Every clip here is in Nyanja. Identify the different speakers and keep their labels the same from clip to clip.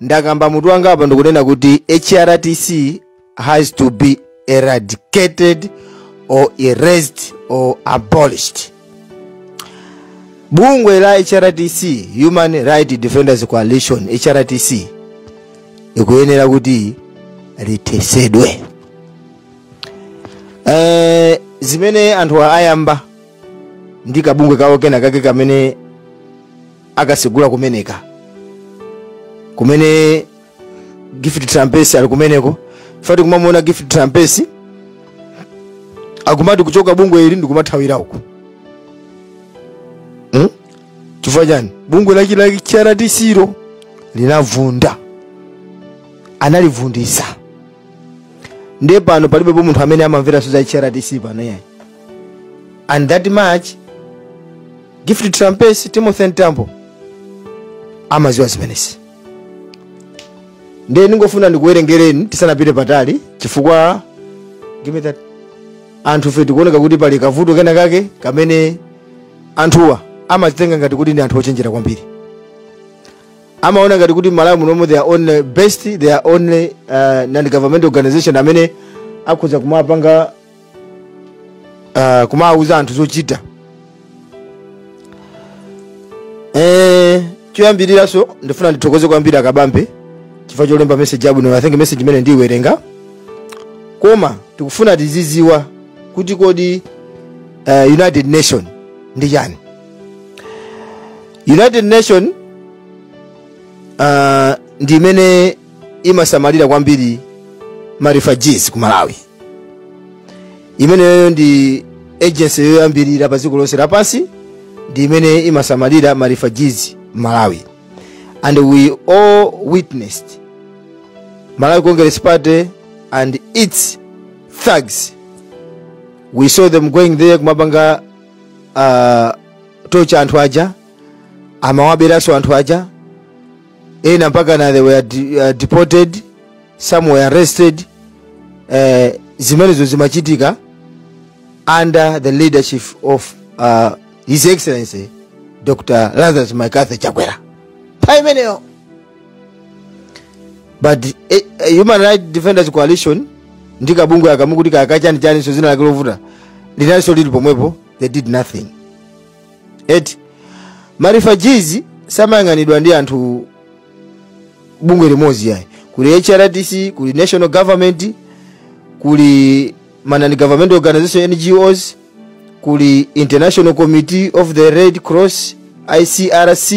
Speaker 1: ndakamba mutu wanga apa ndikunena kuti hrdc has to be eradicated or erased or abolished bungwe la hrdc human rights defenders coalition hrdc ikuyenera kuti lithesedwe eh, zimene anthu ayamba ndi kabungwe kawo kena kake kamene akatsegula kumeneka kumene gift trapence ali kumeneko if mukamuona gift trapence akumati kuchoka bungwe ili ndikumathawira uku hmm? chifukwa chani bungwe lake la hrdc lo linavunda analivundisa ndiye pano palibepo munthu amene amamvera za hrdc pano yayi and that much gift trapence timothy mtambo amaziwa zimenezi ndiye ndingofuna ndikuwerengereni tisanapite patali chifukwa give me that anthu fe tikuoneka kuti pali kavuto kena kake kamene anthuwa amazitenga ngati kuti ndi anthu ochenjera kwambiri amaona ngati kuti malawi munomo they are only best they are only uh, non government organization amene akhoza kumapanga uh, kumawuza anthu zochita eh, choyambiriraso ndifuna ndithokoze kwambiri akabambe chifukwa cholemba meseji yabwino i think meseji imene ndiyiwerenga koma tikufuna tiziziwa kuti kodi uh, united nation ndi chani united nation uh, ndi imene imasamalira kwambiri ma refugees ku malawi imeneyo ndi agency yoyambirira pa dziko lonse lapansi ndi imene imasamalira ma refugees malawi and we all witnessed malawi congress party and its thugs we saw them going there kumapanga uh, torture anthu aja amawaberanso anthu aja ena mpaka na they were de, uh, deported some were arrested eh, zimenezo zimachitika under the leadership of uh, his excellency dr lazarus mccarthy chakwera pa imeneyo but eh, eh, human rights defenders coalition ndi kabungwe aka mukuti kakachanichaniso zina lake lovuta linaliso lili pomwepo they did nothing eti ma refugees samayang'anidwa ndi anthu bungwe limodzi yayi kuli hrdc kuli national government kuli ma non government organization ngos kuli international committee of the red cross icrc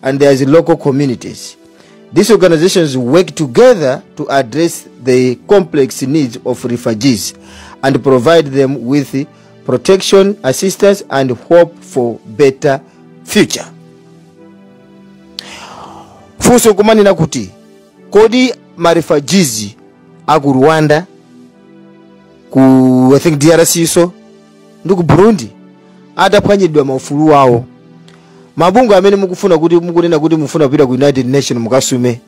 Speaker 1: and there is local communities these organizations work together to address the complex needs of refugees and provide them with protection assistance and hope for better future funso kumanena kuti kodi ma refugees aku rwanda ku i think drc so ndi ku burundi ataphwanyidwa maufulu awo mabungwe amene mukufuna kuti mukunena kuti mufuna kupita ku united nation mukasume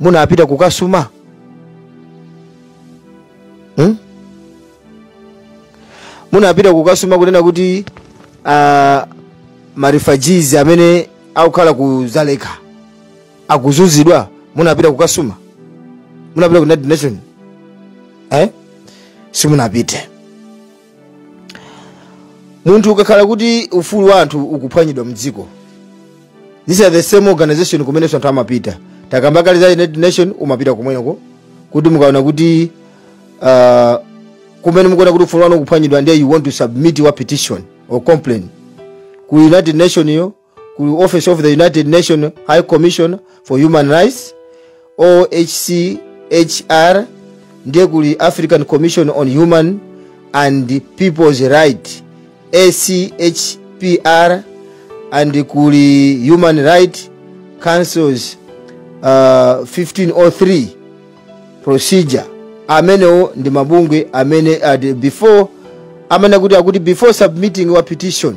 Speaker 1: munapita kukasuma hmm? munapita kukasuma kunena kuti uh, ma refugees amene akukhala ku dzaleka akuzunzidwa munapita kukasuma munapita ku united nation eh? simunapite munthu ukakhala kuti ufulu wa anthu ukuphwanyidwa mdziko these are the same organization kumenenso anthu amapita takamba kale za united nation umapita kumweneko kuti mukaona kuti uh, kumene mukuona kuti ufulu wanu ukuphwanyidwa ndiye you want to submit your petition or complaint ku united nation yo ku office of the united nation high commission for human rights ohchr ndiye kuli african commission on human and people's right achpr and kuli human right councils uh, 1503 procedure amenewo ndi mabungwe amene uh, before amene kuti akuti before submitting your petition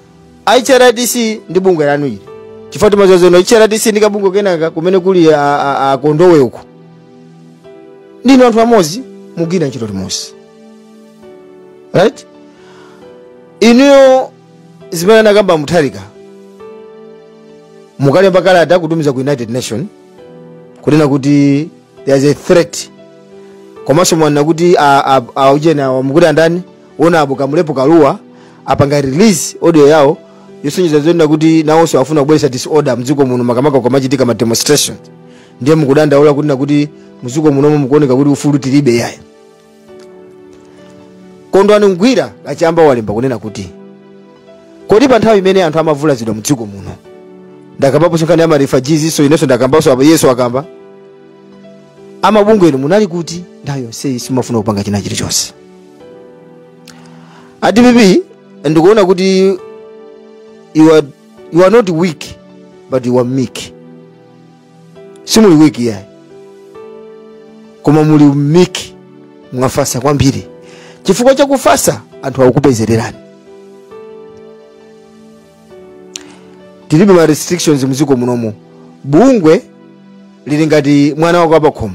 Speaker 1: a hrdc ndi bungwe lanu ili chifukwa timadziwa zeno hrdc ndi kabungwe kenaka kumene kuli a- a- akondowe uko ndinu anthu amodzi mugwira ntchito limodzi right inuyo zimene anakamba mutharika mukalemba kalata kutumiza ku united nation kunena kuti there is a threat komanso mwanena kuti a- a- aujeni awa mukuti andani Honorable Kamulepo Kalua apanga release audio yawo yosonyeza zonena kuti nawonso afuna kubweretsa disorder mdziko muno makamaka kukamachitika ma demonstration ndiye mukudandaula kunena kuti mdziko munomo mukuoneka kuti ufulu tilibe yaya kondwani ngwira kachamba walemba kunena kuti kodi pa nthawi imene anthu amavulazidwa mdziko muno ndakambapo nkhani ya ma refugees so inenso ndakambanso apa iyenso akamba amabungwe inu munali kuti nthawi yonseyi simafuna kupanga china chilichonse a dpp ndikuona kuti you are, you are not weak but you are meek simuli weak iyayi koma muli meek mwafasa kwambiri chifukwa chakufasa anthu akukupezererani tilibe ma restrictions mdziko munomu bungwe lili ngati mwana wako wapakhomo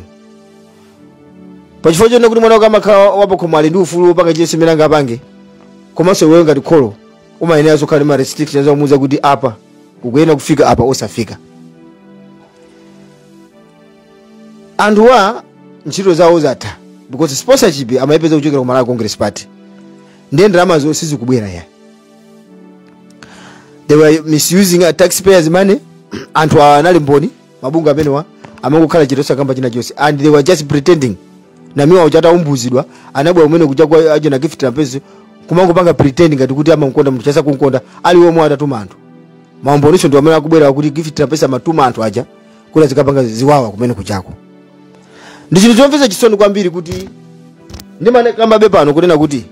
Speaker 1: pachifukwa chonena kuti mwana wako amakhala wapakhomo ali ndi ufulu wopanga chilichonse chimene angapange komanso iweyo ngati kholo umayenera uzikhala ndi ma restrictions omuuza kuti apa ukuyenera kufika apa osafika anthuwa ntchito zawo zatha because sponsorship amayipeza kuchokera ku malawi congress party ndiye ndalamazo sizikubwera ya they were misusing uh, taxpayers money anthu awa anali mboni mabungwe amenewa amangokhala chete osakamba china chonse and they were just pretending namiwa uja ataumbudzidwa anabwera kumene kuja kwa a ujeni gift trapence kumangopanga pretend ngati kuti amamkonda munthu uja asakumkonda ali omwe atatuma anthu maumboniwo ndi amene akubwera kuti gift trapence amatuma anthu aja kuti azikapanga ziwawa kumene kujako ndi chinthu chomvetsa chisoni kwambiri kuti ndimakambabe pano kunena kuti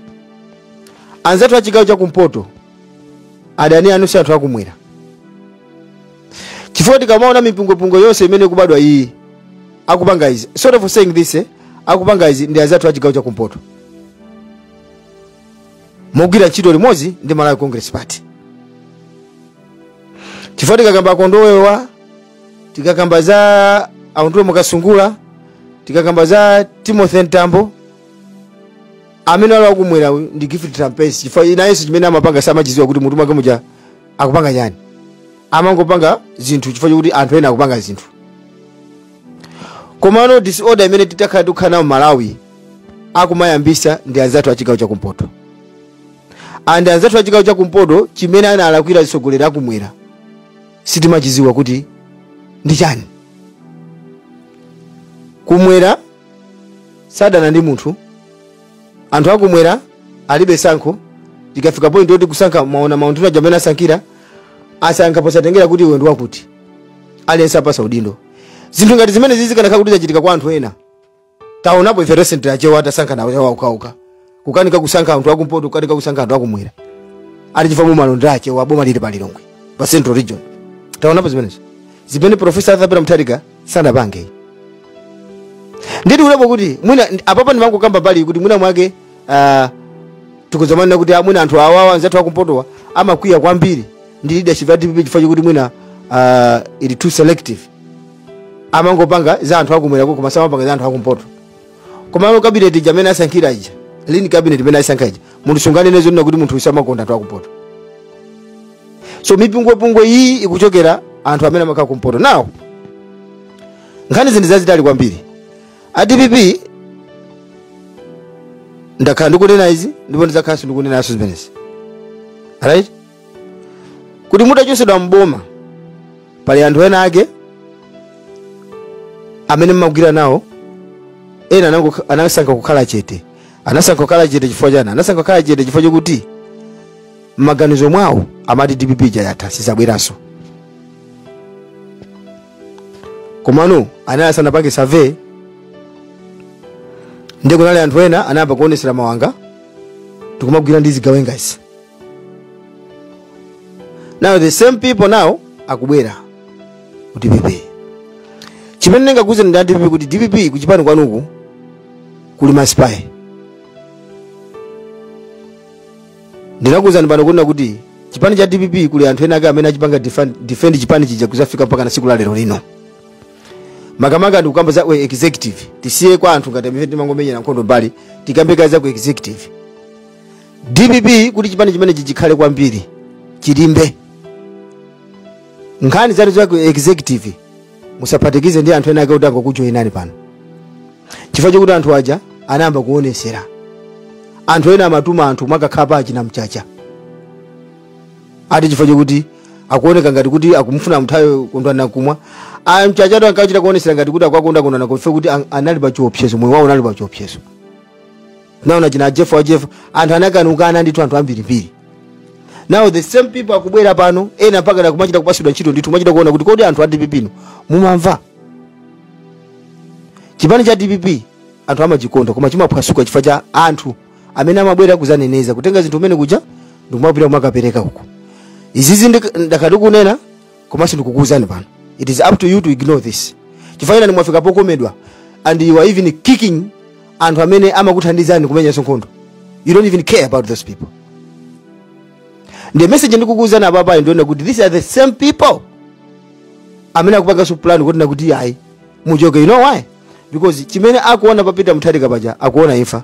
Speaker 1: anzathu a chigawo cha kumpoto adani anu si anthu akumwera chifukwa tikamaona mipungwepungwe yonse imene ikubadwa iyi akupanga izi sorry for saying this eh? akupanga izi ndi anzathu a chigawo cha kumpoto mogwira ntchito limodzi ndi malawi congress party chifukwa tikakamba akondowewa tikakamba za a undule mwakasungula tikakamba za timothy mtambo amene ali wakumwera uyu ndi gift trapence chifukwa nayenso chimene amapanga samachidziwa kuti mutu mwake muja akupanga chani amangopanga zinthu chifukwa chokuti anthu ena akupanga zinthu komano disorder imene takhala tikukhala nayo malawi akumayambitsa ndi anzathu a chigawo chakumpoto and anzathu a chigawo chakumpoto chimene analakwira atsogoleri akumwera sitimachidziwa kuti ndi chani kumwera sadana ndi munthu anthu akumwera alibe tsankho tikafika point yoti kusankha mwaona maunduna aja amene asankhira asankha posatengera kuti iwe ndi wakuti aliyense apatsa udindo zinthu ngati zimenezi zikanakhala kuti zachitika kwa anthu ena taonapo ife recently achewa atasankhana iwo okhaokha kukanika kusankha anthu akumpoto kukanika kusankha anthu akumwera ali chifukwa mumalonda achewa boma lili pa lilongwe pa central region taonapo zimenezo zimene profesa arthur peter mutharika sanapange nditi kulepo kuti mwina apapa ndimangokamba pali kuti mwina mwake ah, tikuzamanena kuti mwina anthu awawa anzathu akumpotowa amakwiya kwambiri ndi leadership ya dpp chifukwa chakuti mwina ah, ili too selective amangopanga za anthu akumwerako koma samapanga za anthu akumpoto komano kabineti ija amene asankhira ija ||ERR kabineti imene ayisankha ija munthu sunganene zonena kuti munthu usamakonda anthu akupoto so mipungwepungwe iyi ikuchokera anthu amene amakhala kumpoto nawo nkhani zinthu zazitali kwambiri a dpp ndakhala ndikunena izi ndipo ndidzakhalanso ndikunenaso zimenezi right kuti mutachosedwa m'boma pali anthu ena ake amene mmagwira nawo ena anango- anasankha kukhala chete anasankha kukhala chete chifukwa chani anasankha kukhala chete chifukwa chokuti m'maganizo mwawo amati dpp ija yatha sizabweranso komano anali asanapange survey ndiye kunali anthu ena anayamba kuonesera mawanga tikumagwira ndi zigawengazi now the same people now akubwera ku dpp chimene ndingakuuzeni a dpp kuti dpp kuchipani kwanuku kuli masipayi ndinakuuzani pano kunena kuti chipani cha dpp kuli anthu ena ake amene achipanga defend, defend chipani chija kuzafika mpaka na siku la lero lino makamaka ndikukamba za ku executive tisiye kwa anthu ngati amene timangomenya nkhondo mbali tikambe kaye za ku executive dpp kuti chipani chimenechi chikhale kwambiri chilimbe nkhani zanu za ku executive musaphatikize ndi anthu ena ake kuti angokujoinani pano chifukwa chokuti anthu aja anayamba kuonesera anthu ena amatuma anthu mukakhala pa achina mchacha ati chifukwa chokuti akuoneka ngati kuti akumufuna Mtharika kondwani nankhumwa aya mchacha nawo ankachita kuonesera ngati kuti akwakonda kondwana kofe kuti an- anali pa chiopsezo moyo wawo unali pa chiopsezo naona achina jeff wa jeff anthu anakanukana ndi anthu ambirimbiri now the same people akubwera pano ena mpaka nakumachita kupasidwa ntchito ndithu machita kuona kuti kodi anthu a dpp inu mumamva chipani cha dpp anthu amachikonda koma chimaphwasuka chifukwa cha anthu amene amabwera kuzaneneza kutenga zinthu umene kuja ndikumapita kumakapereka uko izizi ndakhala ndikunena komanso ndikukuwuzani pano it is up to you to ignore this chifukwa inu mwafika pokomedwa and you are even kicking anthu amene amakuthandizani kumenya nkhondo you don't even care about those people the message ndikukuwuzani apapayi ndi yoona kuti these are the same people amene akupanganso plan kuti nakuti ayi muchoke you know why because chimene akuona pa peter mtharika paja akuona imfa